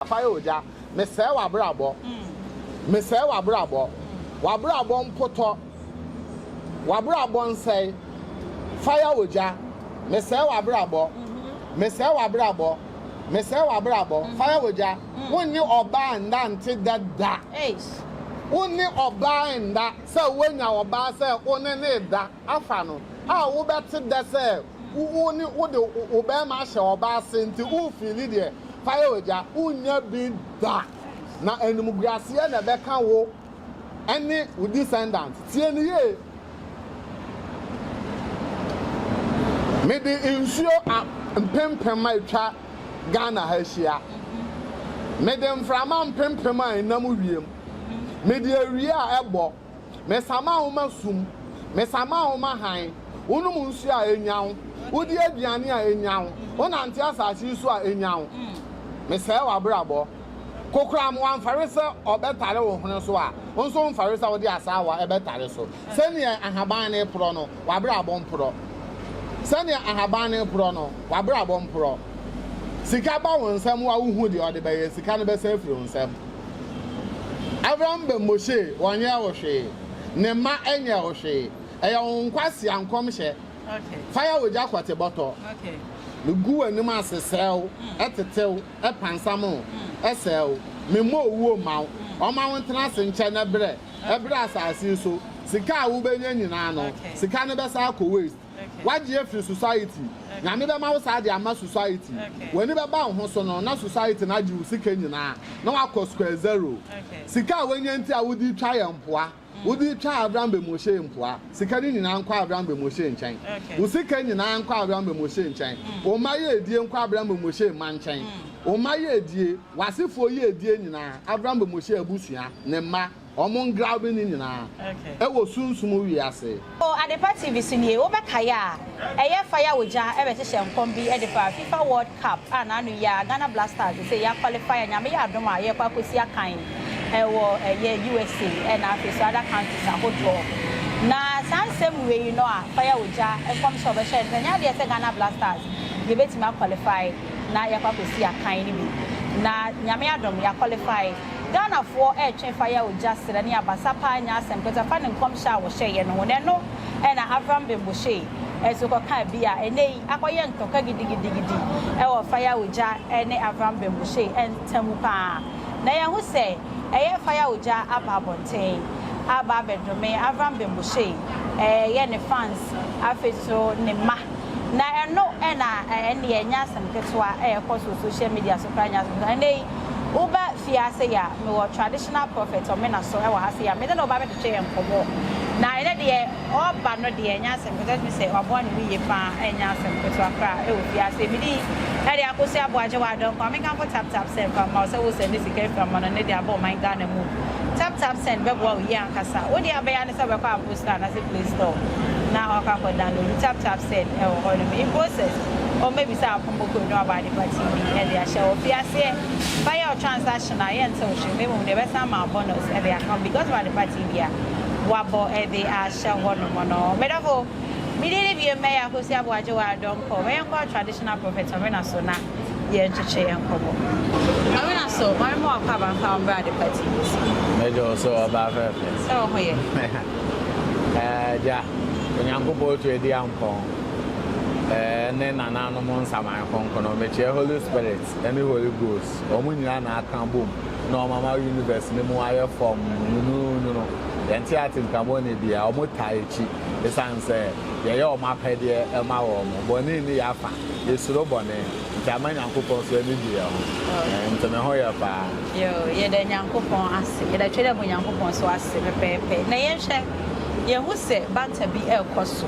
Fire Ogya, mesɛe w'abrabɔ, mesɛe w'abrabɔ, w'abrabɔ mpotɔ, w'abrabɔ nsɛe, Fire Ogya, mesɛe w'abrabɔ, mesɛe w'abrabɔ, mesɛe w'abrabɔ, Fire Ogya, wo ne ɔbaa nna nte da da, wo ne ɔbaa nna sɛ woanya ɔbaa sɛ wo ne ne da. afa no a wobɛte dɛ sɛ wo ne wode wo bɛrima ahyɛ ɔba ase nti wofiili deɛ fa yɛ ogya wonnya bi da na animguaseɛ na ɛbɛka wo ɛne wo descendant tie no yie mede nsuo a mpempem a ɛtwa Ghana ha hyia mede mframa mpempem a ɛnam wiem mede awia a ɛbɔ Mesa ma wo ma sum, mesa ma wo ma hann, wonom nsuo a enya wo, wodi aduane a enya wo, wonante asase yi so a enya wo. Mesɛe w'abrabɔ. Kokoram wamfare sɛ ɔbɛtare wo hwene so a, wo nso womfare sɛ wode asaawa ɛbɛtare so. Sɛdeɛ ahaban no reporɔ no, w'abrabɔ mporɔ. Sɛdeɛ ahaban no reporɔ no, w'abrabɔ mporɔ. Sika ba wo nsam a, wohu deɛ ɔde bɛyɛ, sika no bɛsan afiri wo nsam. Abraham ba Mose, wɔnyɛɛ wo hwee, ne mma nyɛɛ wo hwee, ɛyɛ wo nkwasea nkɔmhyɛ, fire ogya kɔte bɔtɔ, megu w'anim ase srɛ wo, tete wo, pansam wo, sɛe wo, memmɔ owuo mma wo, ɔmma wo ntena ase nkyɛ na brɛ, brɛ asase so, sika a wobɛnya nyinaa no, sika no bɛsan akɔ waste. Wagye afiri society. Nyame bɛma wo saa de ama society. W'ani bɛba wo ho so no na society no agye wo sika nyinaa na wakɔ square zero. Sika a wanya nti a wode retwa yɛn mpoa, wode retwa Avram Bemoshee mpoa, sika no nyinaa nkɔ Avram Bemoshee nkyɛn. Wo sika nyinaa nkɔ Avram Bemoshee nkyɛn. Wo mma yiedie nkɔ Avram Bemoshee mma nkyɛn. Wo mma yiedie, w'asefoɔ yiedie nyinaa, Avram Bemoshee abusua, ne mma. Wɔn ngraw bi ne nyinaa wɔ sunsum wiase. Wɔ Adepa TV so nie, wobɛkae a, ɛyɛ fa ya ogya bɛhyehyɛ nkɔm bi de fa Fifa World Cup a n'ano yi ara Ghana Black Stars sesei yɛakwalifai a Nyame yɛ adom a yɛrekɔ akɔsi akan wɔ ɛyɛ USA na afei nso other countries ahodoɔ. Na saa nsɛm wei no a fa ya ogya nkɔm sɛ wɔbɛhyɛ no sɛ ɛnyɛ adeɛ sɛ Ghana Black Stars yɛbɛtumi akwalifai na yɛakɔ akɔsi akan no bi. Na Nyame adom yɛakwalifai. Ghanafoɔ retwe fire ogya serɛ ne abasa paa nyɛ asɛm kɛtɛ fa ne nkɔmhyɛ a wɔhyɛeɛ no ho. Na ɛno na Avram Bemboshei nso kɔkaa bi a ɛnnɛ yi akɔyɛ ntɔkwa gidigidigidi wɔ fire ogya ne Avram Bemboshei ntam paa. Na yɛahu sɛ ɛyɛ fire ogya aba abɔnten aba abɛdome Avram Bemboshei, ɛyɛ ne fans afei nso ne mma. Na ɛno na ɛnneɛ ɛnyɛ asɛm ketewa a ɛkɔ so social media so koraa nyɛ asɛm ketewa. Ɛnnɛ yi woba fie ha sei a, mewɔ traditional prophet Ɔmena so wɔ ha sei a, me ne no ba bɛtwetwe yɛn nkɔmmɔ. Na ɛnnɛ deɛ ɔba no deɛ ɛnyɛ asɛm ketewa, ɛtumi sɛ waboa ne ho yie pa ara a ɛnyɛ asɛm ketewa koraa wɔ fie ha sei. Me din de Akosua Aboagye w'adɔe nkwa. Me nkamfo tap tap send fa mma wo sɛ wo sɛnde sika firi amannɔne de aba ɔman Ghana mu. Tap tap send bɛboa wo yie ankasa. Wo deɛ a wobɛyɛ ara ne sɛ wobɛkɔ aboro. Store anase play store na wakɔ akɔ download tap tap said ɛwɔ hɔ nom in process ɔmmɛbisa akombo code na waba ade pa TV ɛde ahyɛ hɔ fi aseɛ fa yɛ ɔtransaction a yɛ ntew hwee na mmom deɛ ɛbɛsan ama wo bonus ɛde aka ho because of ade pa TV a wabɔ ɛde ahyɛ hɔ nom no me dɔfo me din ne biom mɛyɛ akosi aboagye wɔ adɔnkɔ mɛyɛ nkɔ traditional prophet ɔmena so na. yɛnkyekye yɛn nkɔmmɔ. Maame na so maame ma wakɔ abankwa ɔmbrɛ ade pa ti bi so. Medwo so ɔbaa fɛfɛ. Sɛ wo ho yɛ. Ɛɛ gya Onyankopɔn otu adi ampɔn ɛɛ ne nananom nsaman kronkron mekyerɛ Holy Spirit ɛne Holy Ghost wɔn nyinaa na aka bom na wɔn ama universe no mu ayɛ fɔmm nwununwunu yɛnte atenkamɔne bia wɔn taa akyi esan sɛ yɛyɛ wɔn apɛdeɛ ɛma wɔn bɔne nni yɛafa Yesuro bɔne, nti ama Nyankopɔn so ani gye yɛn ho. Ɛɛ, nti ne ho yɛ paa. Yoo, yɛda Nyankopɔn ase. Yɛda Twedeɛbɔ Nyankopɔn so ase pɛpɛɛpɛ. Na yɛnhwɛ, yɛhu sɛ bata bi rekɔ so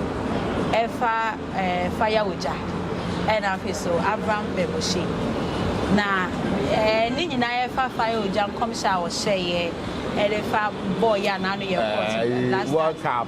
ɛfa ɛɛ faya ogya, ɛna afei so Abram pɛ Moshe. Na ɛɛ ne nyinaa ɛfa faya ogya nkɔmhyɛ a ɔhyɛeɛ ɛde fa bɔɔ yɛ a n'ano yɛ hot last time. World Cup.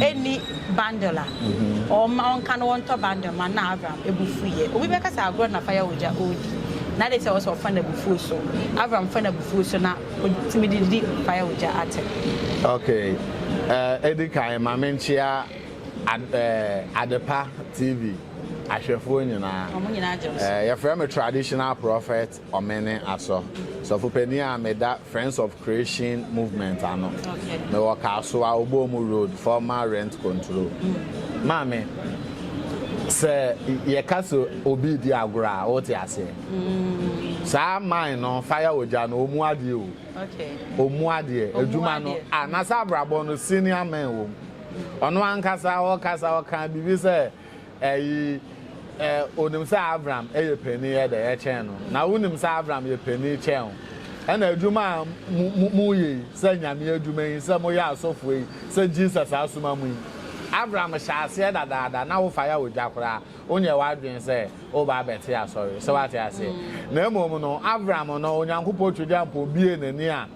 ɛnni bundle a, ɔmma ɔnka no wɔntɔ bundle mma no na Avram bo fuiɛ. Obi bɛka sɛ agorɔ na fire ogya ɔredi na adɛn nti na ɛwɔ sɛ ɔfa no abufuo so? Avram fa no abufuo so na ɔtumi de di fire ogya atɛm. Ok, ɛdi kan ma menkyea Adepa TV ahwɛfoɔ nyinaa. Wɔn nyinaa agye wo so. Yɛfrɛ me Traditional Prophet Ɔmene Asɔ, sɔfo panin a meda Friends of Creation Movement ano. Mewɔ Kasoa, Oboomu Road, former Rent Control. Maame, sɛ yɛka sɛ obi redi agorɔ a, wote aseɛ. Saa mine no, fire ogya no, ɔmu adeɛ o. Ɔmu adeɛ, adwuma no, a na sɛ abrabɔ no senior men wɔ mu. Ɔno ankasa ɔkasa ɔka biribi sɛ Eyi, ɛ, onim sɛ Avram yɛ panin yɛ dɛ kyɛn no, na wonim sɛ Avram yɛ panin kyɛn wo. Ɛna adwuma a mo, mo, moyɛ yi, sɛ Nyame adwuma yi, sɛ moyɛ asɔfoɔ yi, sɛ Jesus asoma mo yi, Avram hyɛ aseɛ dadaada, na wofa yɛ ogya koraa, wonyɛ w'adwene sɛ woba abɛte asɔre. So woate aseɛ? Na mmom no, Avram no, Onyankopɔn Twɛdiampɔn buee n'ani a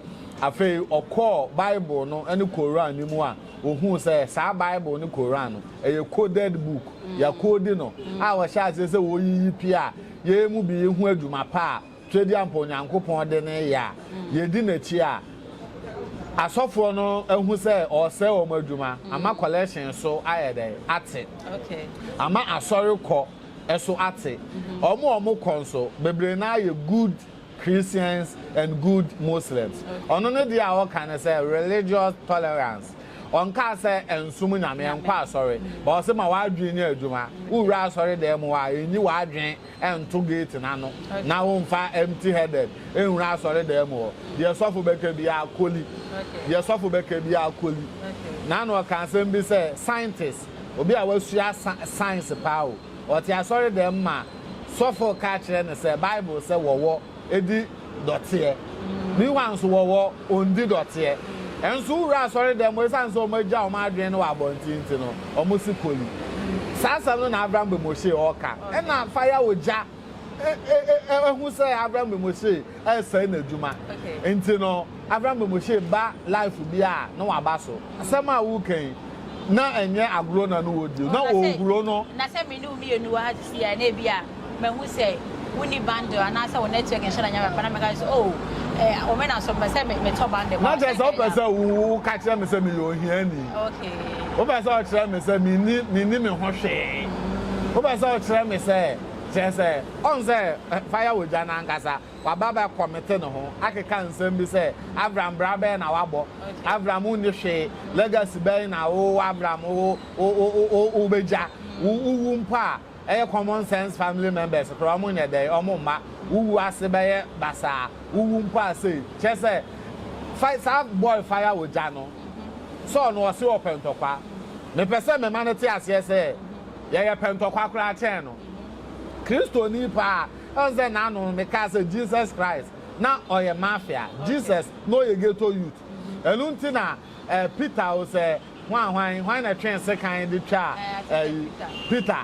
afei ɔkɔɔ Bible no ne Koran no mu a Ohuu sɛ saa Bible ne Koran no, ɛyɛ coded book, yɛakoodi no, a wɔhyɛ aseɛ sɛ wɔreyiyi pia a yei mu bi yi ho adwuma pa a Twedeampa Onyankopɔn de no reyɛ a yɛdi n'akyi a asɔfoɔ no ahu sɛ ɔresɛe wɔn adwuma ama collection so ayɛ dɛn ate, ama asɔre kɔ so ate. Wɔn a wɔkɔ nso, bebree no ara yɛ good Christians and good Muslims. Ɔno ne deɛ a ɔka ne sɛ religious tolerance. Ɔnkaa sɛ ɛnsom Nyame, ɛnkɔ asɔre. But ɔse ma w'adwene nyɛ adwuma. Wowura asɔre dan mu a, ɛnyi w'adwene nto gate no ano na womfa empty headed nwura asɔre dan mu hɔ. Deɛ sɔfo bɛka biara kɔli. Deɛ sɔfo bɛka biara kɔli. Na na ɔka asɛm bi sɛ scientist, obi a wasua science paa o, ɔte asɔre dan mu ma sɔfo ka kyerɛ no sɛ Bible sɛ wɔwɔ di dɔteɛ. Bi hɔ a nso wɔwɔ ɔndi dɔteɛ. Nso wowura asɔredɛm mu ɛsiane sɛ wɔagya wɔn adwene no wɔ abɔnten nti no, wɔsi koli. Saa asɛm no na Avram Bemoshe ɔɔka. Ɛna fa ya ogya hu sɛ Avram Bemoshe ɛresɛe n'adwuma. Enti no, Avram Bemoshe ba life bi a na waba so. Asɛm a woreka yi, na ɛnyɛ agorɔ na no wɔdi, na ɔrehuro no. Na sɛ me ne wo mmienu wɔ ha sisi a, na ebi a mahu sɛ wonni bundle anaasɛ wo network nhyɛ da nyame papa na mɛka sɛ oh, eh, wɔn na so mepɛ sɛ metɔ bundle. Na kyerɛ sɛ wopɛ sɛ woka kyerɛ me sɛ meyɛ ohiani. Okay. Wopɛ sɛ ɔkyerɛ me sɛ menni me ho hwee. Wopɛ sɛ ɔkyerɛ me sɛ. Kyerɛ sɛ, ɔn sɛ fa yɛ wo dwa no ankasa. Waba abɛkɔmete ne ho akeka nsɛm bi sɛ, Avram bra bɛn na wabɔ? Avram nni hwee. Legacy bɛn na wo, Avram, wo, wo, wo, wo, wo, wobegya? Wo, wowu mpo a, ɛyɛ common sense family members koraa, wɔn nyɛ dɛn, wɔn mma. Wowu ase bɛyɛ basaa. Wowu mpo a sei. Kyerɛ sɛ, fa, saa boy fa yɛ wo dwa no, sɛ ɔno ɔse ɔpɛ ntɔkwa. Mepɛ sɛ mema no te aseɛ sɛ, Yɛyɛ pɛ ntɔkwa koraa kyɛn no. Kristoni paa, ɛwɔ sɛ n'ano me kaa sɛ Jesus Christ na ɔyɛ mafia, Jesus na ɔyɛ ghetto youth. Ɛno nti na eh, Peter o sɛ hwan hwan, hwan na ɛtwee sekan de twaa eh, Peter.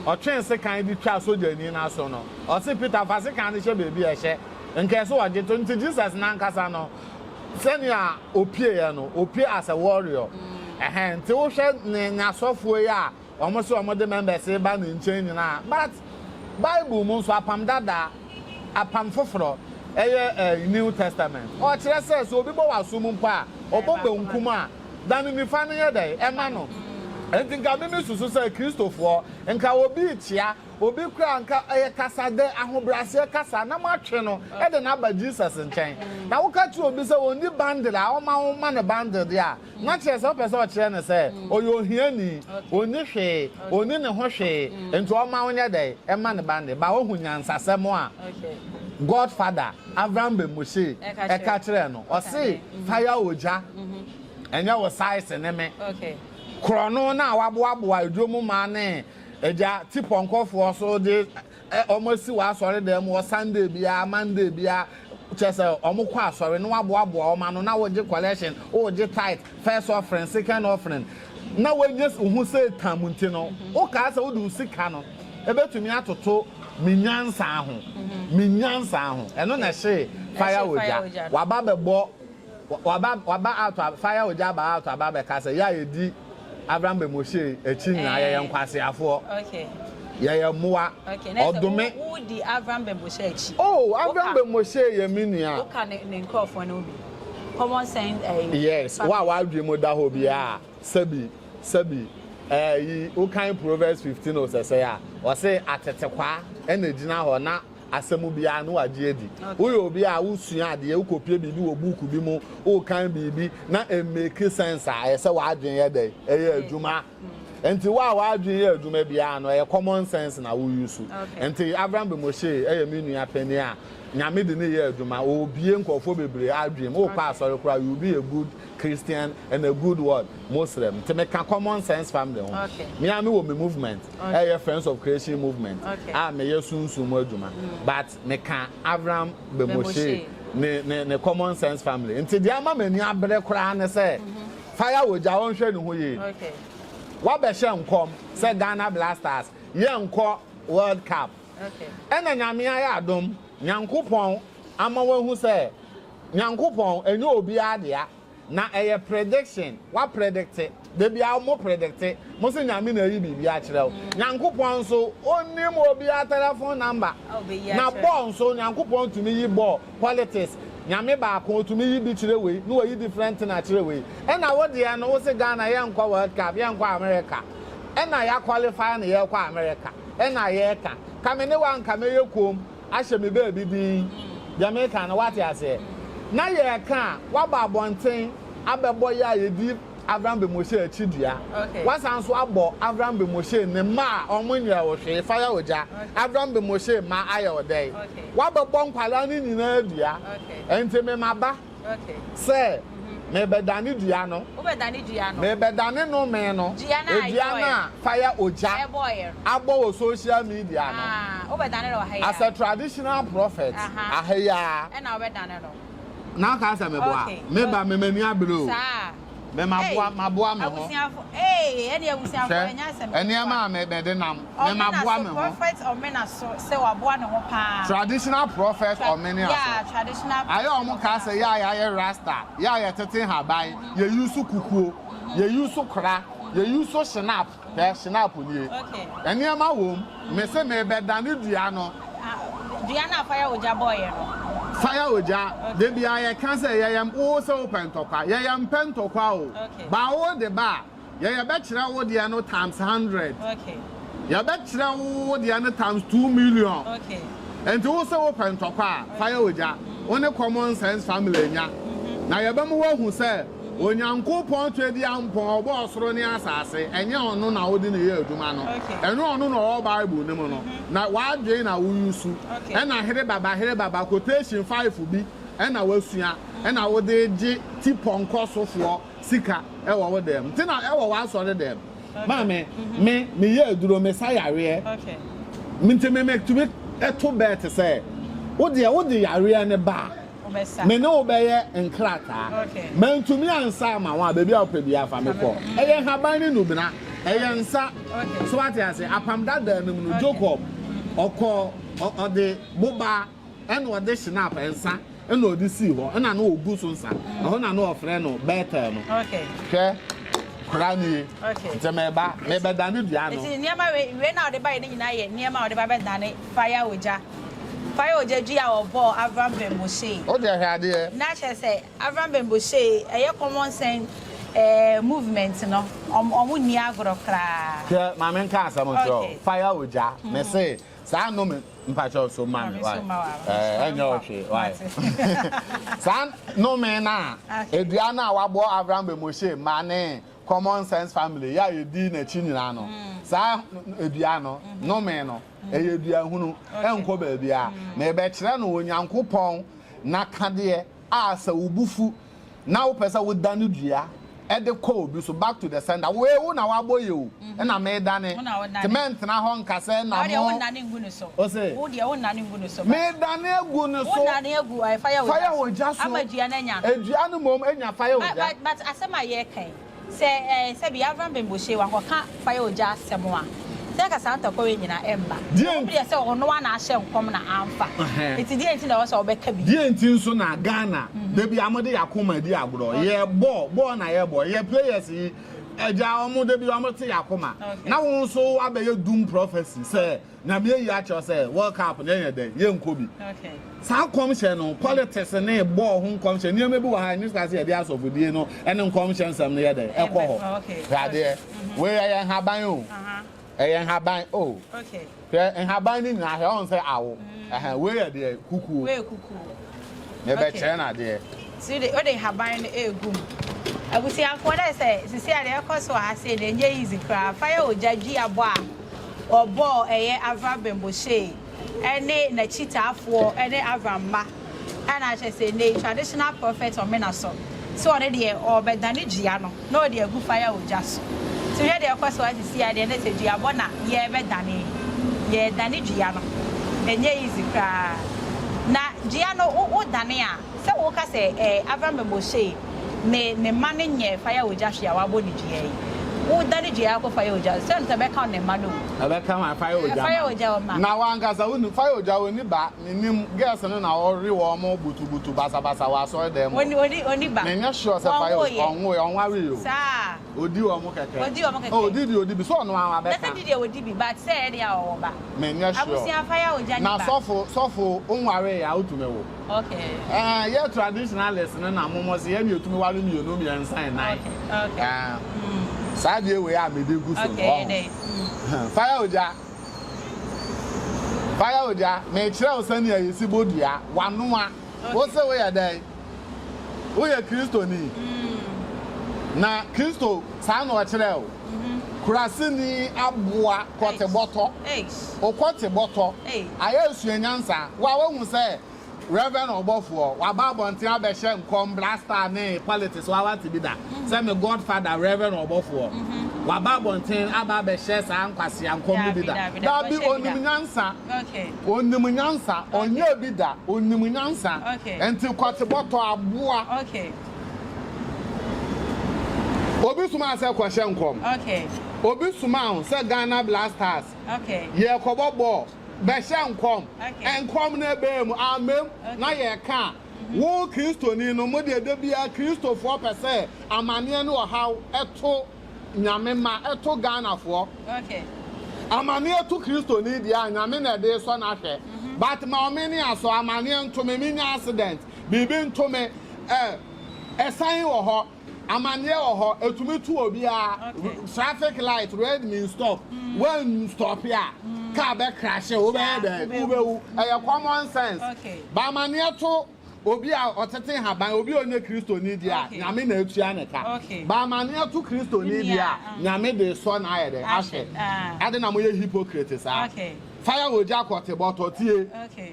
Ɔtwee sekan de twaa sogyani no aso no. Ɔse Peter fa sekan no hyɛ baabi a ɛhyɛ. Nka ɛso wɔ ghetto, nti Jesus no ankasa no, Sɛnea opieɛ no, opie as a warrior. Ɛhɛn, nti wohwɛ ne n'asɔfoɔ yi a wɔn se wɔn de members ba ne nkyɛn nyinaa. But Bible mu nso, Apam Dada, Apam Foforɔ, ɛyɛ ɛɛ New Testament. Ɔkyerɛ sɛ, sɛ obi bɔ w'asom mpo a, ɔbɔ benkum a, da ne nifa no yɛ dɛn? Ɛma no. Ɛnti nka me me susu sɛ Kristofoɔ, nka obi rekyea Obi koraa nka ɛyɛ kasa dɛ ahobrɛaseɛ kasa na moatwe no de no aba Jesus nkyɛn. Na woka kyerɛ obi sɛ ɔnni bundle a ɔma wo ma no bundle deɛ a, na kyerɛ sɛ wopɛ sɛ ɔkyerɛ no sɛ ɔyɛ ohiani, ɔnni hwee, ɔnni ne ho hwee nti ɔma wo nyɛ dɛn? Ɛma no bundle. But woahu nyansasɛm a God father, Avram Ben Moshe, ɛka kyerɛɛ no? Ɔse fire ogya, ɛnyɛ wo size ne me. Korɔno no a waboaboa adwom mmaa ne. Agya, te pɔnkɔfoɔ so de wɔn asi w'asɔredan mu wɔ Sunday biara, Monday biara, kyerɛ sɛ wɔn kɔ asɔre na waboaboa wɔn ano na wogye collection, wogye tithe, first offering, second offering, na wagye ho sɛ tam nti no, wokaa sɛ wode wo sika no ɛbɛtumi atoto me nyansa ho, me nyansa ho, ɛno na ɛhye fire ogya, waba bɛbɔ Waba waba out a fire ogya aba out aba abɛka sɛ yɛ a yɛdi Avram Bɛmɔhyɛ yi akyi nyinaa yɛyɛ eh. nkwaseafoɔ. Okay. Yɛyɛ mmoa. Okay. Na sɛ wo wo di Avram Bɛmɔhyɛ akyi. Oh Avram Bɛmɔhyɛ yɛ me nua. Woka ne ne nkurɔfoɔ no bi. Common sense ɛyi. Eh, yes. Wo a w'adwene mu da hɔ bi a sɛbi sɛbi ɛyi eh, wokan Proverbs fifteen osɛsɛ a ɔse atetekwaa ɛna gyina hɔ na asɛm biara na wagye adi. Woyɛ obi a wosua adeɛ, wokɔpie biribi wɔ buuku bi mu, wokan biribi na ɛmmake sense a, ɛyɛ sɛ w'adwene yɛ dɛn? Ɛyɛ adwuma. Nti wo a w'adwene yɛ adwuma biara no, ɛyɛ common sense na wo use. Nti Avram Bemoshe yɛ me nua panin a Nyame de no yɛ adwuma. Ɔrebue nkurɔfoɔ bebree adwene mu. Wokɔ asɔre koraa, you will be a good Christian and a good what? Muslim. Nti meka common sense family ho. Me ara mewɔ me movement. ɛyɛ Friends of Creation Movement a meyɛ sunsum mu adwuma but meka Avram Bemoshe ne ne ne Common Sense Family nti deɛ ama m'ani abere koraa ne sɛ fire wogya wɔnhwɛ ne ho yie wabɛhyɛ nkɔm sɛ Ghana Blasters yɛnkɔ World Cup ɛna nyame ayɛ adom Nyankopɔn ama wahu sɛ Nyankopɔn ɛnyɛ obiara dea Na ɛyɛ prediction wa predicte dabiaa ɔmo predicte mo se nyame na ayi biribi akyerɛ wo nyankopɔn nso onim obia telephone number na bɔɔ nso nyankopɔn tumi yi bɔɔ politics nyame baako otumi yi bi kyerɛ wei na wayi different thing akyerɛ wei ɛna wo deɛ no wo se Ghana yɛ nkɔ world cup yɛ nkɔ America ɛna ya qualify no yɛ kɔ America ɛna yɛ ka ka me ne wo anka mɛyɛ koom ahyɛ me baabi den, deɛ mereka no woate aseɛ, na yɛreka a woaba abɔnten abɛbɔ yɛ a yɛdi Avram Ben Moshe akyi dua, woasan nso abɔ Avram Ben Moshe ne mma a wɔn nyɛɛ wo hwee, fa yɛ ogya, Avram Ben Moshe mma ayɛ wo dɛn? Woabɛbɔ nkwadaa no nyinaa dua, ɛnti me maba. sɛ, Merebɛdane dua no, merebɛdane nnome no, dua no a fire ogya abɔ wɔ social media no, as a traditional prophet, aha yi ara na woka sɛ meboa? Me ba, me m'ani abere o. Me ma Ei, boa ma boa me ho. abusuafo, ee, ɛne abusuafo, Hwɛ, ɛnyɛ asɛm ketewa. nneɛma a me mede nam, me Ɔmena ma boa so, me ho. Prophet Ɔmena so sɛ waboa ne ho paa. Traditional prophet Tra- Ɔmene yeah, aso. traditional Ayɛ prophet ɔmo kaa Ɔmena sɛ so. yɛ a yɛayɛ rasta, yɛ a yɛtete nhaban, yɛ use kukuo, yɛ use kora, yɛ use shenap. Hwɛ snap nie. Nneɛma wom. Mese mebɛdane dua no. Dua no a fire ogya bɔeɛ no. Fire ogya. Da biara yɛka sɛ yɛyɛ wo sɛ wopɛ ntɔkwa. Yɛyɛ mpɛ ntɔkwa o. Ba wo de ba a, yɛyɛ bɛkyerɛ wo deɛ no times hundred. Yɛbɛkyerɛ wo wo deɛ no times two million. Nti wo se wopɛ ntɔkwa a, fire ogya. Wo ne common sense family nya. Na yɛbɛma woahu sɛ. Onyankopɔn Tweduampɔn, ɔbɔɔ ɔsoro ne asase, ɛnyɛ ɔno na wode no yɛ adwuma no, ɛnyɛ ɔno na ɔwɔ Bible no mu no, na w'adwene na woresu, ɛna herebaba herebaba quotation five bi na woasua na wode regye tipɔnkɔsofoɔ sika wɔ wo dan mu, nti na wɔ w'asɔre dan mu. Maame, me, meyɛ aduro, mesa yareɛ, nti me metumi to bɛɛte sɛ, wodeɛ wode yareɛ no ba a, Me ne wo bɛyɛ nkrataa. Mantumi ansa ama wo a, baabi a wopɛ biara fa me kɔ. Ɛyɛ nhaban ne nnubena. Ɛyɛ nsa. So wate ase? Apam dadaa no mu no, Jacob, ɔkɔ, ɔde boba ɛna ɔde shenap, nsa, ɛna ɔde sii hɔ, ɛna na ɔgu so nsa. Ɛhɔ na na ɔfrɛ no Bethel no. Hwɛ, kora no ye. Nti meba, mebɛdane dua no. Nti nneɛma wei, wei na ɔde ba yɛ ne nyinaa yɛ nneɛma a ɔde ba bɛdane fire ogya. Fa yɛ ogya dua a wɔbɔɔ Avram Bemboshee. O deɛ hwɛ adeɛ. Na kyerɛ sɛ Avram Bemboshee ɛyɛ common sense eh movement no ɔmo ɔmo nni agorɔ koraa. Hwɛ ma me nka asɛm nkyerɛ wo fa yɛ ogya me se saa nome mpakyɛw so ma me wai eh ɛnyɛ wo hwee wai saa nome no a edua no a wabɔ Avram Bemboshee ma ne common sense family yɛ a yɛdi nakyi nyinaa no saa edua no nome no. ɛyɛ dua hunu ɛnkɔ baabiara mm. na ɛbɛkyerɛ no onyankopɔn n'akadeɛ a sɛ wo bu fu na wopɛ sɛ woda no dua ɛde kɔ obi so back to the sender wo ewu na wabɔ yɛ o mhm. ɛna meedane te mɛntena hɔ nka sɛ na mo ose meedane agu ne so fayɛ ogya so adua no mmom anya fayɛ ogya but asɛm a yɛka yi Sɛ ɛɛ sɛbi Avram Ben Boshe wakɔ ka fire ogya asɛm a, sɛ ɛka saa ntɔkwawe nyina ɛmba. Ɛwɔ mu deɛ sɛ ɔno ara ahyɛ nkɔm na amfa. Nti deɛ nti na ɛwɔ sɛ ɔbɛka bi? Deɛ nti nso na Ghana da biara mode yɛn akoma di agorɔ? Yɛ bɔɔl, bɔɔl na yɛ bɔ. Yɛ players yi, agya wɔn da biara wɔte yɛn akoma. Na wo nso woabɛyɛ doom prophecy sɛ Nyame ayi akyerɛ wo sɛ world cup no ɛyɛ dɛn yɛnkɔ bi saa nkɔmhyɛ no politics ne bɔɔl ho nkɔmhyɛ nneɛma bi wɔ ha ɛne saa sɛ yɛde asɔfodie no ɛne nkɔmhyɛ nsɛm no yɛ dɛn ɛkɔ hɔ hwɛ adeɛ mhm. wei ɛyɛ nhaban o ɛyɛ nhaban o hwɛ nhaban no nyinaa hwɛ ɔn sɛ awo mhm. wei yɛ deɛ kukuo Mebɛkyerɛ no adeɛ. Nti wode wode nhaban no ɛɛgu mu. Abusuafoɔ dɛ sɛ sisi a deɛ ɛkɔ so ha sei deɛ ɛnyɛ easy koraa fa yɛ ogya dua bɔ a wɔbɔɔ ɛyɛ Avram Bemboshei ɛne n'akyitaafoɔ ɛne Avram mma ɛna kyerɛ sɛ nnɛyi traditional prophet ɔmena so sɛ ɔno deɛ ɔɔbɛdane dua no. na ɔde agu fire ogya so nti hwɛ deɛ ɛkɔ so a sisi a deɛ na sɛ dua bɔ na yɛbɛdane yɛdane dua no ɛnyɛ easy koraa na dua no wo wo dane a sɛ wo ka sɛ ɛɛ Avram Ben Boschee ne ne mma no nyɛ fire ogya hwee a wabɔ ne dua yi wo dane dua akɔ fire ogya so sɛ ɛbɛka wo ne mma no o. Ɛbɛka wo fire ogya ma fire ogya wo ma. Na wo ankasa wo ni fire ogya wo ni ba. Minim girls no na ɔwe wɔn butubutu basabasa wɔ asɔredan mu. Menyɛ sure sɛ Fayose ɔnwoe, ɔnwaree o. Odi wɔn kɛkɛ. Oh, odi deɛ odi bi. Sɛ ɔno ara bɛka. Menyɛ sure. Na sɔfo, sɔfo, wonwaree a wotumi wo? Ɛɛ, yɛ traditionalist no na momo se yɛne yɛtumi ware mmienu, mmiɛnsa, nnan. Ɛɛ, saa adeɛ wei a mede gu so no, woahu. Fire ogya. Fire ogya, merekyerɛ wo sɛnea yesi bɔ dua, wanoa. Wose woyɛ dɛn? Woyɛ Kristoni? Na Kristo saa na ɔkyerɛɛ wo? Kuraseni aboa kɔte bɔtɔ. Wokɔte bɔtɔ, ayɛ asuanyansa. Wo a woahu sɛ Rev. Ɔbɔfoɔ, waba abɔnten abɛhyɛ nkɔm Black Star ne politics wa wate bi da sɛ me God father Rev. Ɔbɔfoɔ waba abɔnten aba abɛhyɛ saa nkwasea nkɔm no bi da dabi onim nyansa onim nyansa ɔnyɛɛ bi da onim nyansa nti kɔte bɔtɔ aboa obi soma sɛ kɔhyɛ nkɔm obi soma sɛ Ghana Black Stars yɛkɔbɔ bɔɔl Bɛhyɛ nkɔm. Nkɔm no ɛbɛɛ mu, ammam na yɛreka a, wo Kristoni no, mo deɛ da biara Kristofoɔ pɛ sɛ amaneɛ ne ɔhaw to Nyame mma, to Ghanafoɔ. Amaneɛ to Kristoni deɛ a, Nyame na ɛde resɔ no ahwɛ. But ma ɔme ne asɔ, amaneɛ nto me, menya accident, biribi nto me, eh, ɛsan wɔ hɔ. Amaneɛ wɔ hɔ ɛtumi to obiara traffic light red means stop wan stop a car bɛ crashe wo bɛyɛ dɛ wo bɛ wu ɛyɛ common sense ba amaneɛ to obi a ɔtete haban obi a ɔnyɛ kristoni di a nyame na atua ne ka ba amaneɛ to kristoni di a nyame de sɔ na ayɛ dɛ ahwɛ ade na moyɛ hypocrite saa fire wɔ gya kɔte bɔtɔ tie.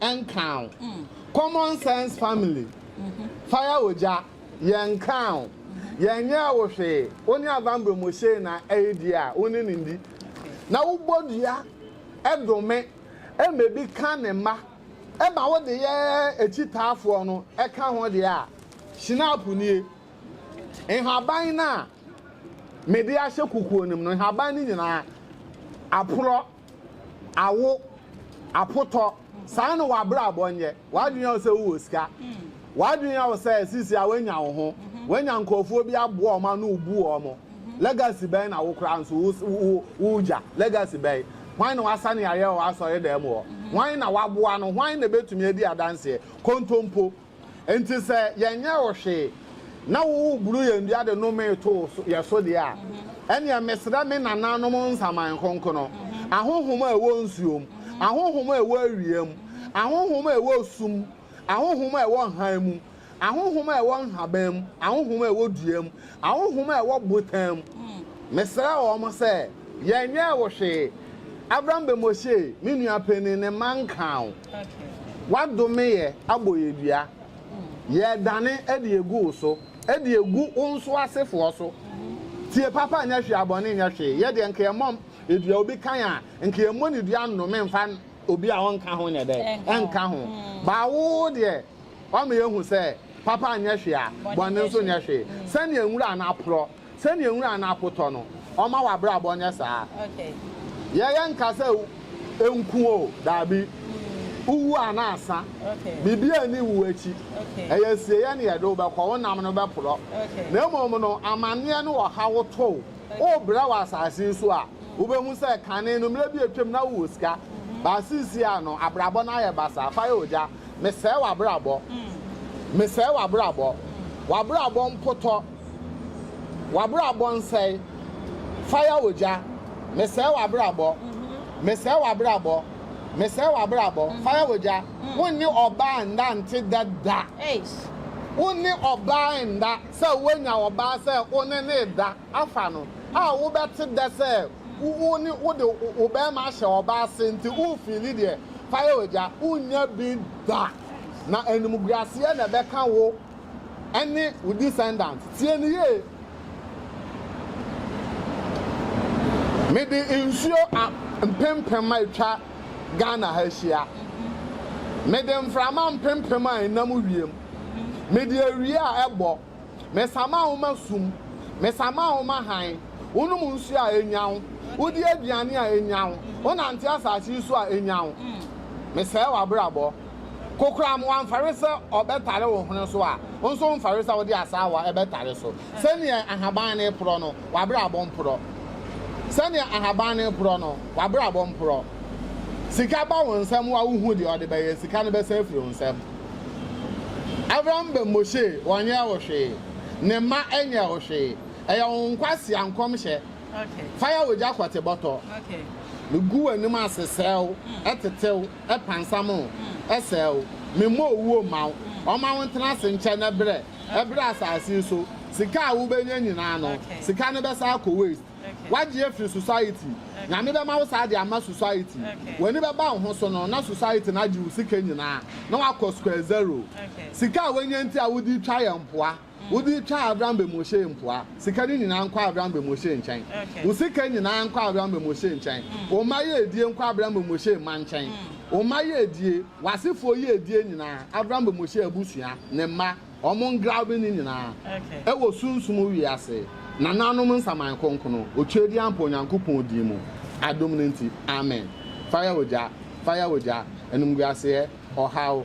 ɛnkaa wo. Common sense family fire ogya yɛ nkaa wo. Yɛ nyɛɛ wo hwee wo ne Avambre Moshei na ɛye die a wo ne no ndi. Na wo bɔ dua ɛdome ɛma ebi ka ne mma ɛma wo de yɛ akyitaafoɔ no ɛka ho deɛ a Schnapp nie. Nhaban no a mede ahyɛ kukuo no mu no nhaban no nyinaa aporɔ. awo, apotɔ, saa na w'abrabɔ nyɛ. W'adwene yɛ wo sɛ wowɔ sika. W'adwene yɛ wo sɛ sisi a woanya wo ho, woanya nkurɔfoɔ bi aboa wɔn ano wobu wɔn. Legacy bɛn na wo koraa nso woregya? Legacy bɛn? Hwan na wasane ayɛ wɔ w'asɔre dɛm hɔ? Hwan na waboa no? Hwan na bɛtumi adi adanseɛ? Kontompo. Enti sɛ yɛnyɛɛ wo hwee, na woreburu yɛn dua de nomee too yɛn so deɛ a, ɛnneɛ mesrɛ me nananom nsaman kronkron, ahonhom a ɛwɔ nsuo mu, ahonhom a ɛwɔ awia mu, ahonhom a ɛwɔ sum mu, ahonhom a ɛwɔ hann mu, ahonhom a ɛwɔ nhaban mu, ahonhom a ɛwɔ dua mu, ahonhom a ɛwɔ botan mu, mesrɛ wɔn sɛ, Yɛnyɛɛ wo hwee. Abram bɛmɔhyee, Me nua panin, ne mma nkaa wo. W'adome yɛ abɔyɛdua. Yɛredane de agu wo so, de agu wo nso asefoɔ so. Tie papa nyɛ hwee a bɔne nyɛ hwee. Yɛ deɛ nka yɛmmɔ dua obi kan a, nka yɛmmɔ ne dua nnome mfa obi a ɔnka ho nyɛ dɛn? Nka ho. Baa wo deɛ, wama yɛahu sɛ papa nyɛ hwee a, bɔne nso nyɛ hwee. Sɛdeɛ nwura no aporɔ, Sɛnea nwura no akotɔ no, ɔmma w'abrabɔ nyɛ saa. Yɛyɛ nka sɛ nku o, dabi, wuwu a na asa. Biribiara nni wu akyi. Ɛyɛ asieeɛ na yɛde wo bɛkɔ, wo nam no bɛporɔ. Na mmom no, amanneɛ ne ɔhaw to wo, worebrɛ wɔ asase yi so a, wobɛhu sɛ kane no, mmerɛ bi a atwam na wowɔ sika, but seesei a no, abrabɔ no ayɛ basaa. Fa yɛ ogya. Mesɛe w'abrabɔ. Mesɛe w'abrabɔ. W'abrabɔ mpotɔ. W'abrabɔ nsɛe, fire ogya, Mesɛe w'abrabɔ, mesɛe w'abrabɔ, mesɛe w'abrabɔ, fire ogya, Wo ne ɔbaa nna nte dɛ da, Wo ne ɔbaa nna, sɛ woanya ɔbaa sɛ wo ne no reda, Afa no a wo bɛ te dɛ sɛ wo ne wo de wo bɛɛma ahyɛ ɔbaa ase nti wo fiili deɛ, fire ogya, Wo nnya bi da, na animguaseɛ na ɛbɛka wo. ɛne wo descendants. Tie no yie. Mede nsuo a mpempem a atwa Ghana ha ahyia. Mede mframa mpempem a ɛnam wiem. Mede awia a ɛbɔ. Mesama wo ma sum. Mesama wo ma hann. Wonom nsuo a ɛnya wo. Wodi aduane a ɛnya wo. Wonante asase yi so a ɛnya wo. Mesɛe w'abrabɔ. Kokoram wamfare sɛ ɔbɛtare wo hwene so a, wo nso womfare sɛ wode asaawa bɛtare so. Sɛdeɛ ahaban no reporɔ no, w'abrabɔ mporɔ. Sɛdeɛ ahaban no reporɔ no, w'abrabɔ mporɔ. Sika ba wo nsam a wohu deɛ ɔde bɛyɛ, sika no bɛsan afiri wo nsam. Avram ba Moshe wɔnyɛɛ wo hwee, ne mma nyɛɛ wo hwee. Ɛyɛ wo nkwasea nkɔmhyɛ. Fa yɛ w'agya kɔte bɔtɔ. Megu w'anim ase srɛ wo, tete wo. pansam o, sɛɛ o, memmɔ owuo mma wo, ɔmma wo ntena ase nkyɛ na brɛ, brɛ asase yi so, sika a wobɛnya nyinaa no, sika no bɛsan akɔ waste. Woagye afiri society, Nyame bɛma wo saa de ama society, w'ani bɛba wo ho so no na society no agye wo sika nyinaa na woakɔ square zero. Sika a woanya nti a wode retwa yɛn mpoa. Wode twa Abram bɛ Moshe mpoa. Sika no nyinaa nkɔ Abram bɛ Moshe nkyɛn. Wo sika nyinaa nkɔ Abram bɛ Moshe nkyɛn. Wo mma yiedie nkɔ Abram bɛ Moshe mma nkyɛn. Wo mma yiedie, w'asefoɔ yiedie nyinaa, Abram bɛ Moshe abusua, ne mma, wɔn ngralbe no nyinaa, ɛwɔ sunsum wiase, nananom nsaman kronkron, otwedeɛ ampa Onyankopɔn din mu, adom no nti. Amen. Fa yɛ ogya. Fa yɛ ogya. Animguaseɛ, ɔhaw.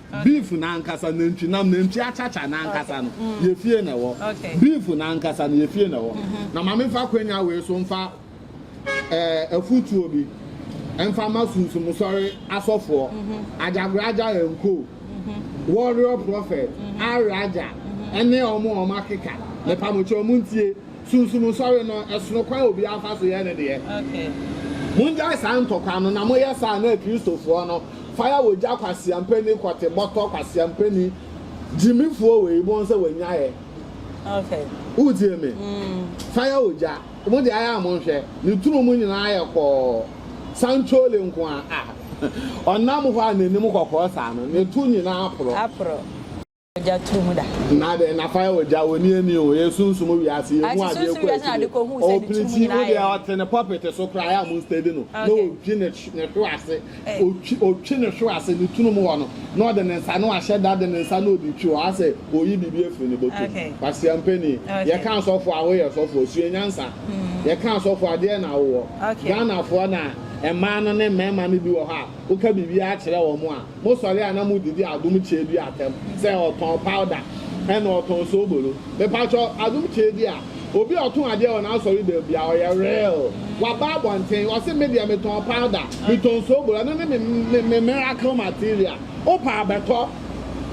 Beef no ankasa, nantwinam, nantwi akyakya no ankasa no, yɛ fie na ɛwɔ. Beef no ankasa no, yɛ fie na ɛwɔ. Na ma memfa akwanya wei so mfa eh, afutuo bi mfa ma Sunsum Sɔre asɔfoɔ, Ajagraja and Co, Warrior Prophet, Araja, ɛne wɔn a wɔakeka. Mepamo kyɛ wɔn ntie. Sunsum nsɔre no, ɛsono kwan a obiara fa so yɛ ne deɛ. Mongyae saa ntɔkwa no, na moyɛ saa a na Akristofoɔ no, fire wɔ gya kwaseampani kɔte bɔtɔ kwaseampani gyimifoɔ wei bɔn sɛ wɔanyaeɛ. Woretie me? Fire wɔ gya. Mo deɛ ayɛ a monhwɛ. Ne tunu mu nyinaa yɛ kɔɔ. Sankyole nko ara. Ah! Ɔnam hɔ a n'anim kɔkɔɔ saa no, ne to nyinaa aporɔ. Ogya turu mu da. Na deɛ nafa yɛ ogya, wɔnni ani o, ɛyɛ sunsum wiase, yɛhu Ate adeɛ sunsum kɔ wiase na ade akyire. kɔhu sɛ ne Ɔpere tiri mu ti nyinaa mu deɛ ayɛ. ɔte ne pɔpete so koraa, ɛyɛ a monstadi no, na Okay. ɔdwi ne hw- ne hwe ase, Eh. ɔtwi ɔtwi ne hwe ase, ne tunu mu hɔ no, na ɔde ne nsa, na wahyɛ da de ne nsa na ɔde twi hɔ, ayɛ sɛ ɔreyi biribi afiri ne bɔtɔ mu. Okay. Kwasea mpanin, Okay. yɛka asɔfoɔ a, woyɛ sɔfoɔ, sua nyansa. Yɛka asɔfoɔ a, deɛn na wowɔ? Okay. Ghanafoɔ na mmaa no ne mmarima no bi wɔ hɔ a, woka biribiara kyerɛ wɔn a, Mosɔre a na mo didi adom kyeɛ bi atɛm sɛ ɔtɔn powder ɛna ɔtɔn soobolo mepakyɛw adom kyeɛ bi a obi a ɔtɔn adeɛ wɔ n'asɔre dɛm bi a ɔyɛ real waba abɔnten ɔse me deɛ metɔn powder metɔn soobolo ɛno ne me me me miracle material wopɛ a bɛtɔ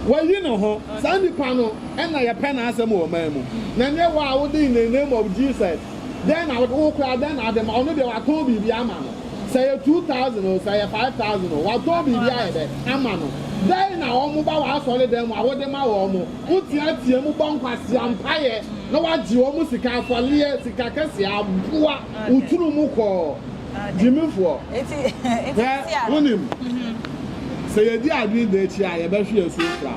wayi ne ho saa nipa no ɛna yɛpɛ n'asɛm wɔ ɔman mu na nyɛ wo a wode in the name of Jesus Dɛn na wode, wo koraa dɛn na wode ma? Ɔno deɛ watɔn biribi ama no. Sɛ ɛyɛ two thousand o, sɛ ɛyɛ five thousand o, watɔn biribi ayɛ dɛ, ama no. Dɛn na wɔn ba w'asɔredan mu a wode ma wɔn? Woteateam bɔ nkwasea mpaeɛ na wagye wɔn sika, afɔreɛ, sika kɛseɛ, aboa, woturu mu kɔɔ. Gyimifoɔ, hwɛ, wonim, sɛ yɛdi adwene da akyi a yɛbɛhwe yɛn so afira,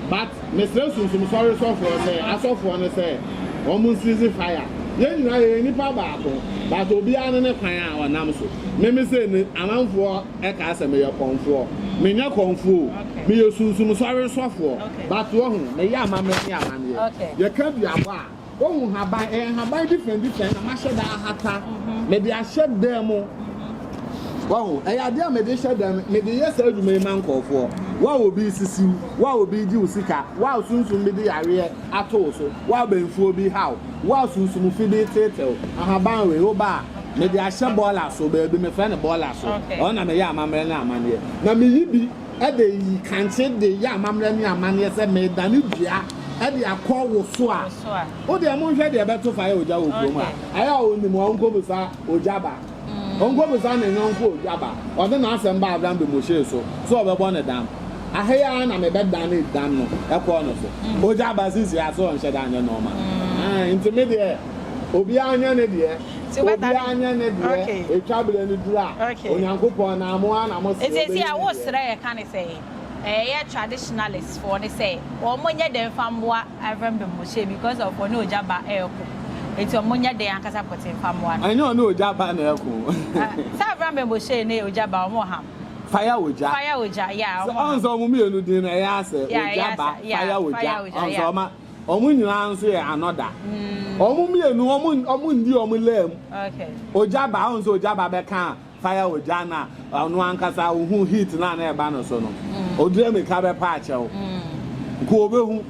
but Mesrɛ Sunsum Sɔre sɔfoɔ ne asɔfoɔ no sɛ wɔn nsizi fire. Yɛn nyinaa yɛyɛ nnipa baako but obiara ne ne kwan a ɔnam so. Me me sei no amanfoɔ kaa sɛ meyɛ kɔmfoɔ. Menyɛ kɔmfoɔ o, meyɛ Sunsum Sɔre sɔfoɔ but wahu meyɛ amammerɛ ne amanneɛ. Yɛka duabɔ a. Wohu nhaban, ɛyɛ nhaban different different na mahyɛ da ahata, mede ahyɛ dan mu. Wahu, ɛyɛ adeɛ a mede hyɛ dan mu, mede yɛ saa adwuma yi ma nkɔɔfoɔ. Wa obi sisiw, wa obi gye wo sika, wa sunsum bi de yareɛ ato wo so, wa bɛnfuo bi haw, wa sunsum fi bi tetew. Ahaban wei, woba a, mede ahyɛ bɔɔla so, baabi mefrɛ no bɔɔla so, ɛhɔ na meyɛ amammerɛ ne amanneɛ, na meyi bi. de reyi kankyee de reyɛ amammerɛ ne amanneɛ sɛ meredane dua de akɔ wo so a, wo deɛ monhwɛ deɛ ɛbɛto fa yɛ ogya wɔ kurom a, ɛyɛ a ɔnim a ɔnkɔbisa ogya ba, ɔnkɔbisa ne yɔnko ogya ba, ɔde n'asɛm ba Avram de Moshe so sɛ ɔbɛbɔ no dam. Aha yi ara na mebɛdane dam no kɔɔ no so. Ogya ba sisi a, so ɔnhyɛ da nyɛ nɔɔma? Aane, nti me deɛ obiara nyɛ ne deɛ. Obiara nyɛ ne deɛ, ɛtwa berɛ no duru a, Onyankopɔn na mo ara na mo se ɔbɛyi ne deɛ. Srɛ yɛ ka ne sɛ ɛyɛ traditionalist foɔ ne sɛ wɔn nyɛ dɛn nfa mmoa Rev Bemboche because of ɔne ogya ba reko nti wɔn nyɛ dɛn ankasa pɔtee nfa mmoa no. Ɛnyɛ ɔne ogya ba na ɛko. Sɛ Rev Bemboche ne ogya ba wɔn ɔha. Fire ogya. Fire ogya yeah wɔn ɔha. Ɔn sɛ wɔn mmienu din no ɛyɛ asɛ ogya ba fire ogya ɔn sɛ wɔn. Wɔn nyinaa nso yɛ anɔda. Wɔn mmienu, wɔn nni wɔn laa mu. Ogya ba, wɔn nso ogya ba bɛka fire ogya na ɔno ankasa ohun heat na na ɛba no so no. Odire mmirika bɛpa akyɛw. Nko obehu.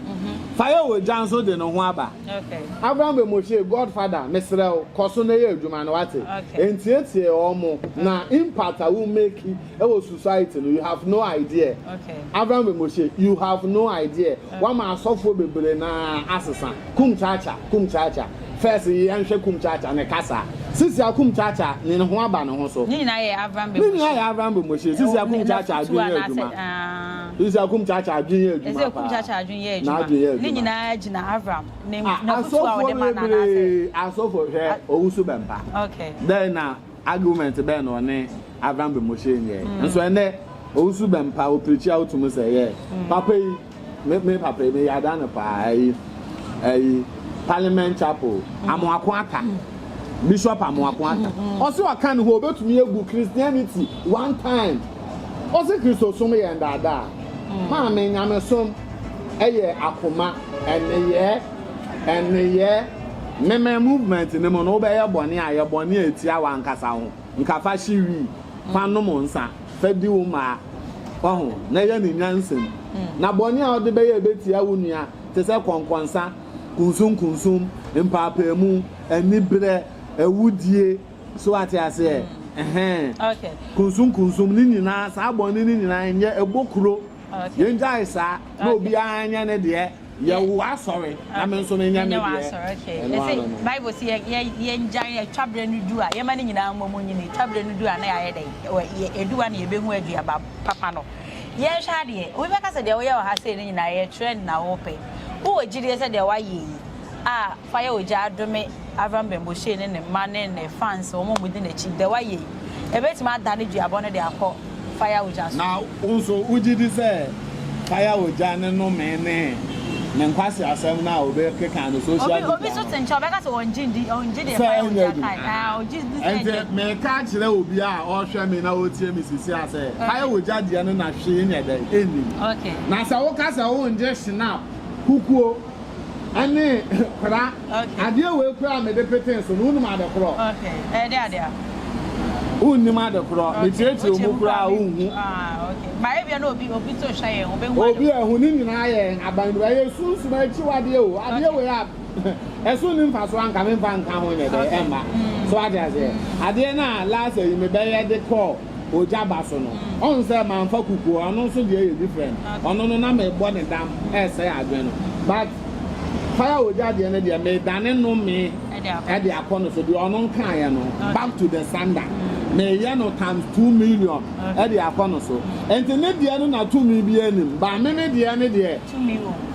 Fire ogya nso de ne ho aba. Abraham bɛ Moshe, God father, mesrɛ wo, kɔ so na yɛ adwuma no, wate? Ntiatia wɔn na impact a wo make ɛwɔ society no you have no idea okay. Abraham Bemoshe you have no idea okay. wama asɔfoɔ bebree na asesa kum chacha kum chacha first yɛnhwɛ kum chacha ne kasa sisi akum chacha ne ne ho aba ne ho so ne nyinaa yɛ Abraham Bemoshe ne nyinaa yɛ Abraham Bemoshe sisi akum chacha adwene yɛ adwuma ah. sisi akum chacha adwene yɛ adwuma ɛsɛ kum chacha adwene yɛ adwuma ne nyinaa gyina Abraham ne ah, na kutu a ɔde ma na na asɛ asɔfoɔ hwɛ owusu bɛmpa okay then na. Argument bɛn na ɔne Avram Bemoshe nyɛɛ? Mm. Nso ɛnɛ, owusu bɛn pa opirikyi a wotum sɛ ɛyɛ. Mm. Papa yi, me, me papa yi, meyɛ ada no paa, ɛyi, ɛyi, Parliament Chapel, mm. Amoako Ata. Mm. Bishop Amoako Ata. Mm. Ɔse ɔka ne ho, obetumi agu Christianity one time. Ɔse Kristosom yɛ ndaadaa. Mm. Maame, nyamesom ɛyɛ akoma, ɛneyɛɛ. Nneyɛɛ, Memen movement no mu no, wobɛyɛ bɔne a, yɛ bɔne a etia w'ankasa ho. Nka fa hye wii, fa nom nsa, fa di wo mmaa. Wahu? Na yɛ no nyansam. Na bɔne a wode bɛyɛ a ebetia wo nua, te sɛ kɔnkɔnsa, kunsunkunsum, mpaapaemu, anibrɛ, awudie, so wate aseɛ? Ɛhɛn. Kunsunkunsum, ne nyinaa, saa bɔne no nyinaa nyɛ, ɛbɔ kuro. Yɛngyae saa, na obiara nyɛ ne deɛ. yɛ wo asɔre na me nso menyɛ me deɛ ɛno ano no bible sɛ yɛngyan atwa berɛ no du a yɛma no nyinaa mmɔ mu nyini twa berɛ no du a na yɛayɛ dɛn ɛdu a na yɛbɛhu aduaba papa no yɛnhwɛ adeɛ obi bɛka sɛ deɛ woyɛ wɔ ha sei no nyinaa yɛ trend na wopɛ wowɔ gyidie sɛ deɛ woayɛ yi a Fa yɛ ogya adome Avram Bemboshey ne ne mma ne ne fans wɔn a wɔdi n'akyi. Dɛ wayɛ yi, ebetumi adane duabɔ no de akɔ fire ogya so. Na wo nso wogye di sɛ fire ogya ne nnome ne ne nkwaseasɛm no a obi keka no social media no. Obi nso te nkyɛn ɔbɛka sɛ ɔngye ndi, ɔngye deɛ fire ogya kae. Ahaa, ɔgye di sɛ ɛnyɛ adwuma. Enti meka kyerɛ obi a ɔrehwɛ me na ɔretie me sisi a sɛ fire ogya deɛ no na hwee nyɛ dɛn, ɛnnim. Na sɛ woka sɛ wongye Schnapp, kukuo, Ɛne kora. Okay. Adeɛ wei kora a mede petee so no, wonim ade korɔ? Okay. Ɛyɛ de ade a? Wonnim ade korɔ. Okay. Metietie mu kora a wonhu. Ah, okay. Ba ebia na obi obi to hwɛ yɛn, obehu ade. Obi ehu ne nyinaa yɛ aban bi. Ɛyɛ sunsum akyiwadeɛ o. Adeɛ wei a ɛso ni mfa so anka memfa nka ho nyɛ dɛ ɛmma. So ate aseɛ. Adeɛ no a last ayi mebɛyɛ de kɔɔ. ogya ba so no, ɔhu sɛ mamfa kukuo, ɔno nso deɛ yɛ different, ɔno no na mebɔ ne dam ɛresɛe adwene no, but fire ogya deɛ no deɛ medane no me ɛde akɔ no so, deɛ ɔno nkaeɛ no back to the sender, meyɛ no times two million ɛde akɔ no so, nti ne deɛ no na tumi bi anim, but me me deɛ no deɛ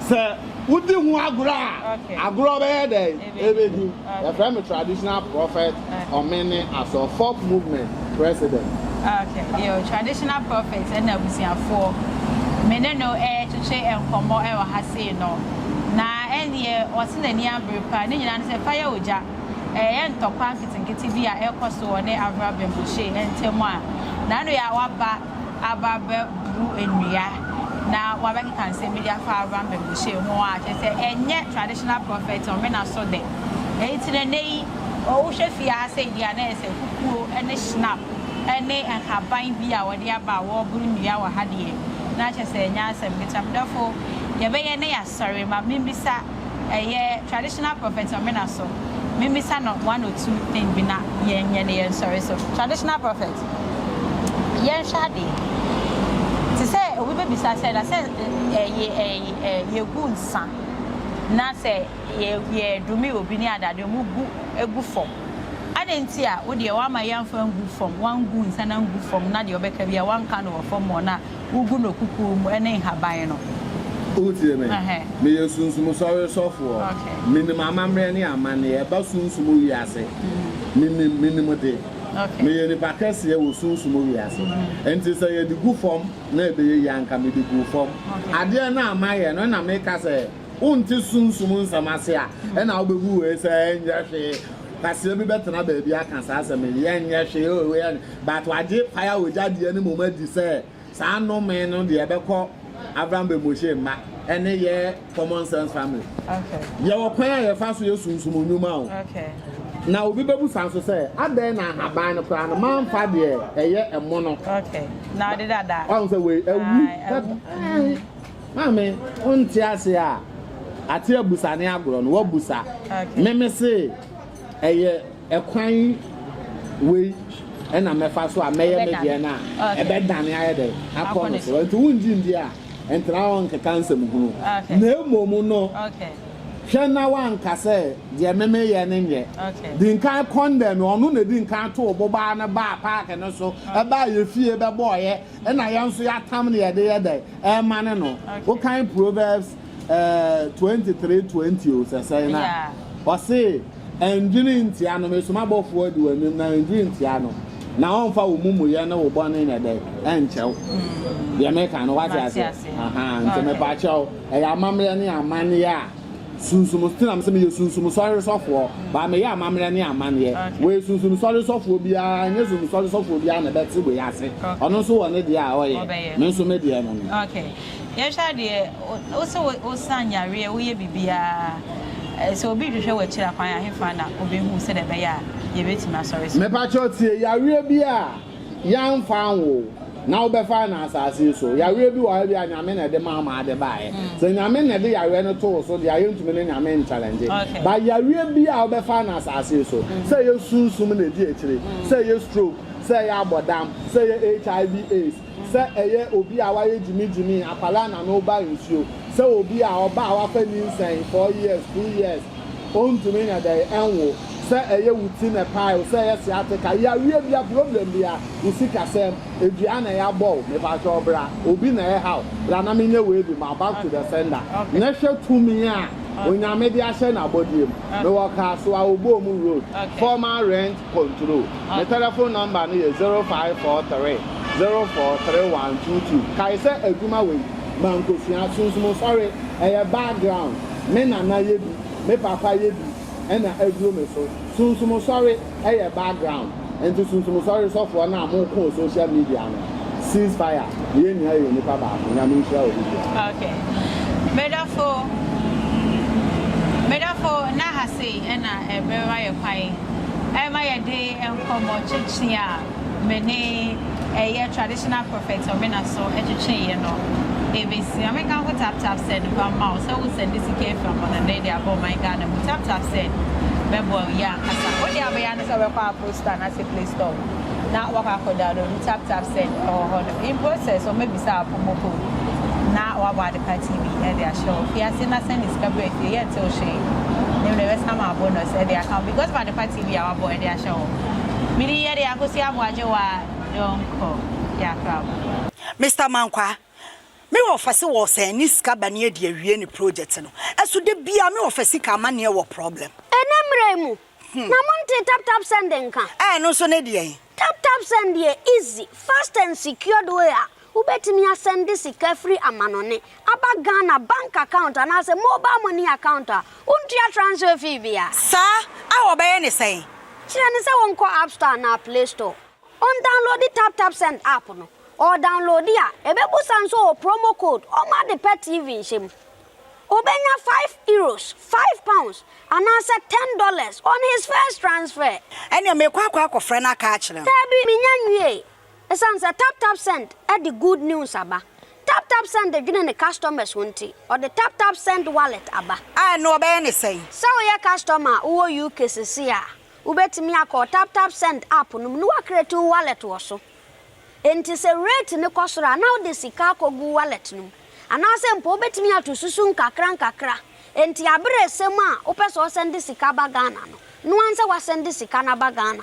sɛ wodi ho agorɔ a, agorɔ bɛyɛ dɛn? Ebedin, Yɛfrɛ me Traditional Prophet Ɔmene Asɔr Folk Movement President. Ok, yo, Traditional Prophet na abusuafoɔ, me ne no retwetwe nkɔmmɔ wɔ ha sei no, na ɛnneɛ ɔse n'ani abere paa, ne nyinaa ne sɛ fa yɛ ogya, ɛyɛ ntɔkwa nketenkete bi a ɛrekɔ so wɔ ne Avrabem Boshey ntam a, Nanoyaa waba. aba abɛbu nnua na wɔabɛkeka nsɛm bi de afa Abraham baguahyɛn ho a, kyerɛ sɛ ɛnyɛ traditional prophet ɔmena so dɛ. Enti no nnɛ yi, wohwɛ fie ha sei deɛ a, na ɛyɛ sɛ kukuo ne schnapp ne nhaban bi a wɔde aba a wɔreboro nnua wɔ ha deɛ, na kyerɛ sɛ ɛnyɛ asɛm ketewa. Medɔfo, deɛ ɛbɛyɛ na yɛasɔre, ma membisa. Ɛyɛ traditional prophet ɔmena so memisa no one or two thing bi na yɛn nyɛ ne yɛn nsɔre so. Traditional prophet yɛn hwɛ adee te sɛ obi bɛ bisa sɛ na sɛ ɛ yɛ ɛ ɛ yɛ gu nsa na sɛ yɛ yɛ dome obi ne ade ade ɔmo gu gu fɔm adɛn nti a wo deɛ wa ama yɛn nfa ngu fɔm wan gu nsa na ngu fɔm na deɛ ɔbɛ ka bia wan ka no wɔ fɔm mɔ na wogu no kukuo mu ne nhaban no. Wotie me? Meyɛ Sunsum Sɔre sɔfoɔ. Menim amammerɛ ne amanneɛ a ɛba sunsum wiase. Menim, menim de. Meyɛ nipa kɛseɛ wɔ sunsum wiase. Enti sɛ yɛde gu fam na ɛbɛyɛ yie a anka mede guu fam. Adeɛ no a mayɛ no na meka sɛ. Wonte Sunsum nsɛm ase a, ɛna wobebu wei sɛ ɛnyɛ hwee. Kwasea bi bɛtena baabi aka saa asɛm yi, ɛnyɛ hwee o, wei ɛnyɛ. But wagye fire ogya deɛ no mmom adi sɛ saa nnome no deɛ ɛbɛkɔ Abraham Bemoshe mma, ɛne yɛ Common Sense Family. Okay. Yɛwɔ kwan a yɛfa so yɛ sunsum nnwuma o. Okay. Na obi bɛbusa nso sɛ, adɛn na ahaban no koraa no mamfa deɛ ɛyɛ ɛmo no? Okay. Na ɔde dada. Ɔhu sɛ wei awu. Ae, awu. Ae. Maame wo nte ase a ate abusa ne agorɔ no wabusa me me se ɛyɛ ɛkwan wei ɛna mɛfa so a mɛyɛ me deɛ no a ɛbɛdane ayɛ dɛ akɔ no so nti wongye ndi a ntena hɔ nkeka nsɛm hunu na mmom no hwɛ na wanka sɛ deɛ meme yɛ ne nyɛ di nkan kɔndɛm ɔno na di nkan too bobaa no baa paake no so ɛbaa yɛ fie bɛbɔɔyɛ Ɛna yɛn nso yɛatam no yɛde yɛ dɛn? Ɛremane no. Wokan Proverbs eh, 23 20 o, sɛ sɛn no a, ɔse, Ɛndwene ntia no, me soma bɔfoɔ adi w'anim, na ɛndwene ntia no, na ɔmfa wo mumuyɛ ne wo bɔne nyɛ dɛn? Ɛnkyɛ wo. Deɛ meka no, wate aseɛ? Aha, nti mepaakyɛw, ɛyɛ amammerɛ ne amanneɛ a Sunsum so nam sɛ meyɛ sunsum sɔre sɔfoɔ baa meyɛ amammerɛ ne amanneɛ wei sunsum sɔre sɔfoɔ biara nyɛ sunsum sɔre sɔfoɔ biara na ɛbɛte wei ase ɔno nso wɔ ne deɛ a ɔyɛ me nso me deɛ no no. Ok yɛhwɛ adeɛ wosɛ wosa nyareɛ woyɛ biribiara sɛ obi hwehwɛ wɔ akyiri akwan ahefa na obɛhu sɛdeɛ ɛbɛyɛ a yɛbɛtumi asɔre so. Mepa kyɛw tie yareɛ bi a Yɛamfa anwo wo, na wobɛfa no asase yi so. Yareɛ bi wɔ hɔ a, ebia Nyame na ɛde maa wo maa de baeɛ. Sɛ Nyame na ɛde yareɛ no too wo so deɛ a, yɛntumi ne Nyame nkyɛlɛngye. But yareɛ biara a wobɛfa no asase yi so, sɛ ɛyɛ sunsum na ɛdi akyire, sɛ ɛyɛ stroke, sɛ ɛyɛ abɔdam, sɛ ɛyɛ HIV, AIDS, sɛ ɛyɛ obi a wayɛ gyimigyimi, akwadaa na no reba nsuo, sɛ obi a ɔbaa a wafa nyinsɛn four years, two years, Ontumi nyɛ dɛn nwo sɛ ɛyɛ wo ti na ɛpae wo sɛ ɛyɛ sciatica, yareɛ bia, problem bia, wo sikasɛm, dua na yɛabɔ wo, mepakyɛw bra, obi na ɛha wo, bra na menyɛ wei bi ma wo back to the sender, na hwɛ tumi a Onyame de ahyɛ n'abɔdeɛ mu. Mewɔ car so a, Obom road, former rent control. Me telephone number no yɛ zero five four three zero four three one two two. Kae sɛ adwuma wei, mankosua, sunsum nsɔre, ɛyɛ background. Me nana yɛ bi, me papa yɛ bi ɛna aduru me so. Sunsum sɔre ɛyɛ background nti sunsum sɔre sɔfoɔ no a mo ko wɔ social media no cease fire na yɛn nyinaa yɛ onipa baako. Nyame nhyira obi biara. Ok me dɔfo me dɔfo na ha sei ɛna ɛbɛma yɛ kwan ɛma yɛde nkɔmɔ twetwe a. me ne ɛyɛ traditional prophet Ɔmena so twetwee yɛ no ɛbɛsi Ame Kanko tap tap sɛ no ba mma wo sɛ wo sɛnde sika afiri amɔnɔne de abɔ ɔman Ghana mu tap tap sɛ bɛ boa wo yie ankasa wo deɛ abɛyɛ ane sɛ wobɛkɔ Apple store anase Play store na wakɔ akɔ download tap tap sɛ ɛwɔ hɔ no in process ɔmɛ bisa wo promo code na wabɔ ade pa TV ɛde ahyɛ wo fie ase na sɛnde sika berɛ fie yɛ nte wo hwee ne mmerɛ bɛsan ma abonus ɛde aka wo because of ade pa TV a wabɔ ɛde ahyɛ wo Me din yɛ de Akosi Aboagyewa Donkor Diakrabo. Mister Mankwaa, me wɔ fɛse wɔ sɛ ɛne sika ba ne adi awie ne project no ɛso da biaa me wɔ fɛ sika amaneɛ wɔ problem. Ɛnɛ mmra yi mu na mo ntee tap tap send nka. Ɛɛ ɛno nso ne deɛn? Tap tap send yɛ easy, fast and secured way a Wobɛtumi asɛnde sika firi amanɔne aba Ghana bank account anaasɛ mobile money account a wontua transfer fee bia. Saa a wɔbɛyɛ ne sɛn? Kyerɛ no sɛ ɔnkɔ App Store anaa Play Store, ɔndownloadi Tap Tap Send app no. Ɔredownloadi a, ɛbɛbusa no sɛ ɔwɔ promo code ɔma ade pɛ TV nhyɛ mu. Ɔbɛnya five Euros, five pounds, anaasɛ ten dollars on his first transfer. Ɛneɛ merekɔ akɔ akɔfrɛ no aka akyerɛ no. Daabi, menya nwiee. Esiane sɛ TapTapSend de good news aba, TapTapSend dwene ne customers ho nti, ɔde TapTapSend Wallet aba. A ɛno wɔbɛyɛ no sɛn? Sɛ woyɛ customer a wowɔ UK seesei a, wobɛtumi akɔ wo TapTapSend app no mu na woacreate wo wallet wɔ so. Enti sɛ rate no kɔ soro a, na wode sika akɔgu wo wallet no mu. Anaasɛ mpo wobɛtumi ato susu nkakra nkakra. Enti aberɛ resɛm a wopɛ sɛ wosɛnde sika ba Ghana no, noa nsɛ woasɛnde sika no aba Ghana.